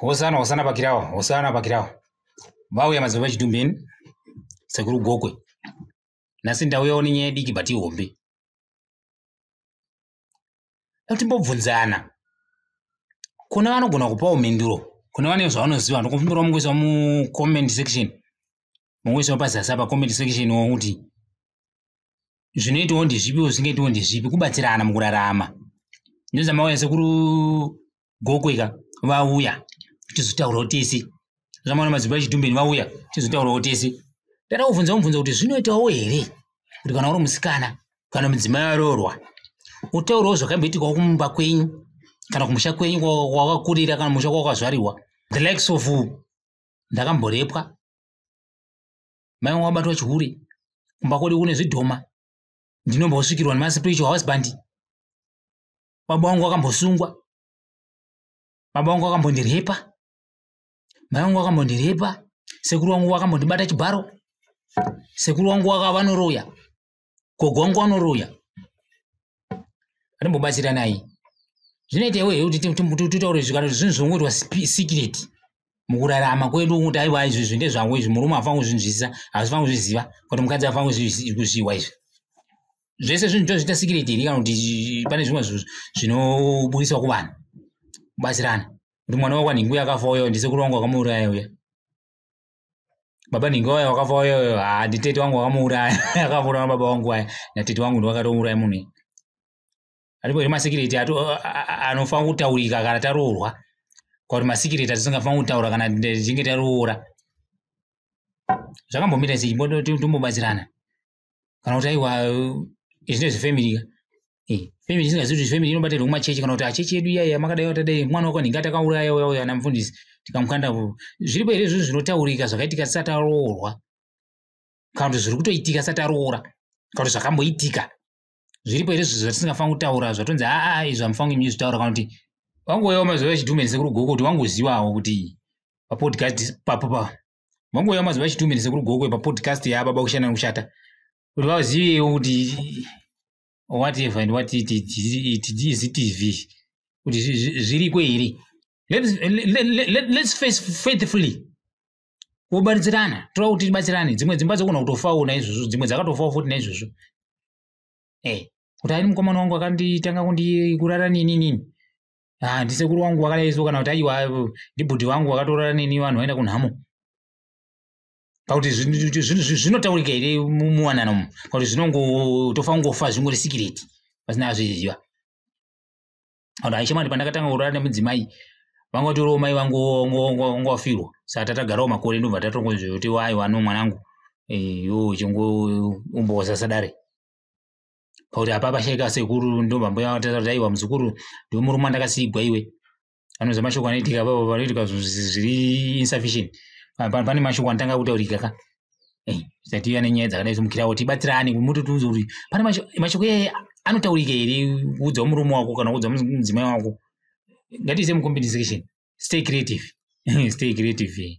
hosana hosana pakirawa hosana pakirawa vauya madzibaba chitumbeni sekuru gokwe nhasi ndauyawo nenyaya diki but ihombe timbobvunzana kuna vanogona kupawo mhinduro kuna vane zvavanoziva ndokupindura mungoisa mucomment section mungoisa pazasi apa comment section wokuti zvinoitawo ndezvipi zvisingaitawo ndezvipi kubatsirana mukurarama ndozamauya sekuru gokweka vauya tizotaurawo tese zvamaona madzimba echitumbeni vauya tizotaurawo tese tata kubvunza kumubvunza kuti zvinoitawo here kuti kana uri musikana kana mudzimai aroorwa utaurawo zvakamboitikawo kumumba kwenyu kana kumusha kwenyu kwakakurira kana musha kwakazvarirwa the likes of ndakamborepwa mai vangu vabatwa chihure kumba kwedu kune zvidhoma ndinombosvikirwa nemaspiritual husband baba vangu vakambosungwa baba vangu vakambondirhepa mai vangu vakambondirhepa sekuru vangu vakambondibata chibharo sekuru vangu vaka vanoroya kogongwanuruya atimbobatsiranai zvinoita iwe kuti titaure zvikana zvinhu zvinongoitwa secret mukurarama kwedu kuti aiwa izvi izvi ndezvangu izvi murume hafani kuzvinzwisisa hazifani kuzviziva kuti mukadzi hafani kuzviwa izvi zvese zvinhu tozviita secret here kana kuti pane zvimwe zvinobudiswa kuvanhu kubatsirana kuti mwana wakwanhingu yakafa uyo ndise kurongwa kwamauraya uya baba nhingi waya wakafa wayoyo haa nditete wangu wakamuuraya akauraya baba wangu waya natete wangu ndiwakatouraya munhu aripo here masikireti anofanira kutaurika kana taroorwa kwakuti masikireti atisingafanira kutaura kana tichinge taroora zvakambomita sei timbobatsirana kana kuti aiwa izvine zvefamily ka eh, family isingazivi kuti family inobatirwa kumachechi kana kuti achechi edu iyaya makadai watadai mwana wako nhinga takauraya uya uya namufundisi tikamukanda zviripo here izvozvo zvinotaurika zvakaitika tisati aroorwa kana kuti zviri kutoitika sati aroora kana kuti zvakamboitika zviripo here zvizvo zvatisingafanira kutaura zvatonzi aa izvo amufanira kunge zvitaura kana kuti wangoyawo mazuva echidhumenise kuri goko kuti wangozivawo kuti papodcast papo pa mangouya maziva achi two minutes ekuri gokwe papodcast yababa kushanda nekushata kuti vazivewo kuti whatever and what it is tv kuti zviriko here let's, let, let, let, let's face faithfully wobaridzirana toda kuti tibatsirane dzimwe dzimba dzogona kutofawo naizvozvo dzimwe dzakatofawo futi naizvozvo e eh, kuti ari mukomana wangu akanditanga kundikurara nini nini ah, ndisekuru wangu wakadai so kana kuti aiwa ndibhudhi wangu wakatorara neni vanhu vaenda kunhamo pakuti zvinotaurika here muwanano mu pakuti zvinongotofa kungofa zvingori sikireti pasina azviziva vanhu aishamwati pandakatanga kurara nemudzimai vanga vatorowo mai vangu ngowafirwa saka tatagarawo makore ndobva tatongoziva kuti waiwa no mwanangu eh, yo chingoumboza sadare pakuti apa pashaika sekuru ndomambuya vatata kuti aiwa muzukuru ndiwe murume andakasigwa iwe anonzi mashoko anoitika apapo panoitika zviri insufficient pane mashoko anotanga kutaurika ka eh, zati ive ane nyaya dzakadai somukirawo tibatsirane mutotiunza kuti pane mashoko iyaye anotaurika here kuudzawo murume wako kana kuudza mudzimai wako ngatiise mucompensation stay creative stay creative eh.